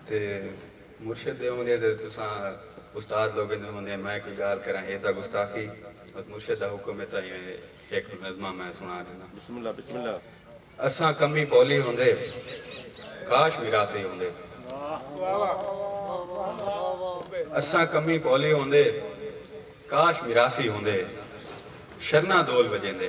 تے مرشد دے ہوندے تے تساں استاد لوگیں دے ہوندے میں کوئی گالھ کراں اے تاں گستاخی بس مرشد دا حکم اے تاں ایویں ہک نظمہ میں سنا ݙینداں۔ بسم اللہ بسم اللہ۔ اساں کمی پولی ہوندے کاش میراثی ہوندے۔ اساں کمی پولی ہوندے کاش میراثی ہوندے شرناں دول وجیندے۔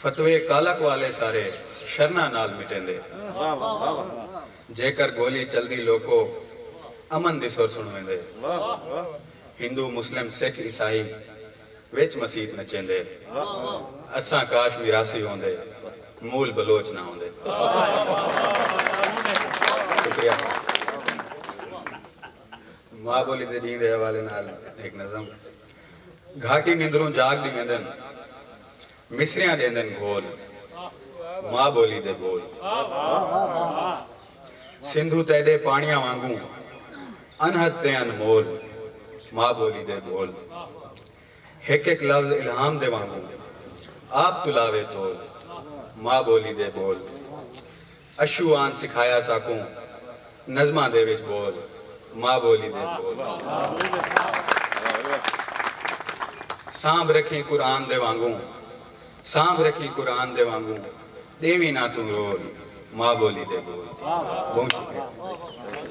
فتوے کالا کوالے سارے شرناں نال مٹیندے۔ جیکر گولی چلدی لوکو امن دی سر سنویندے۔ ہندو مسلم سکھ عیسائی وچ مسیت نچیندے۔ اساں کاش میراثی ہوندے مول بلوچ نہ ہوندے۔ شکریہ بھائی۔ ماء بولی دے ڈینھ دے حوالے نال ہک نظم۔ گھاٹی نندروں جاگ ݙیویندن مصریاں ݙیندن گھول ماء ٻولی دے ٻول سندھو تیݙے پاݨیاں وانگوں انہد تے انمول ماء ٻولی دے ٻول ہک ہک لفظ الہام دے وانگوں آپ توں لاوے تول ماء ٻولی دے ٻول۔ اشو آن سکھایا ساکوں نظماں دے وچ بول ماء بولی دے بول سانبھ رکھیں قرآن دے وانگوں سانبھ رکھیں قرآن دے وانگوں ڈیویں نہ توں رول ماء بولی دے بول بہوں شکریہ۔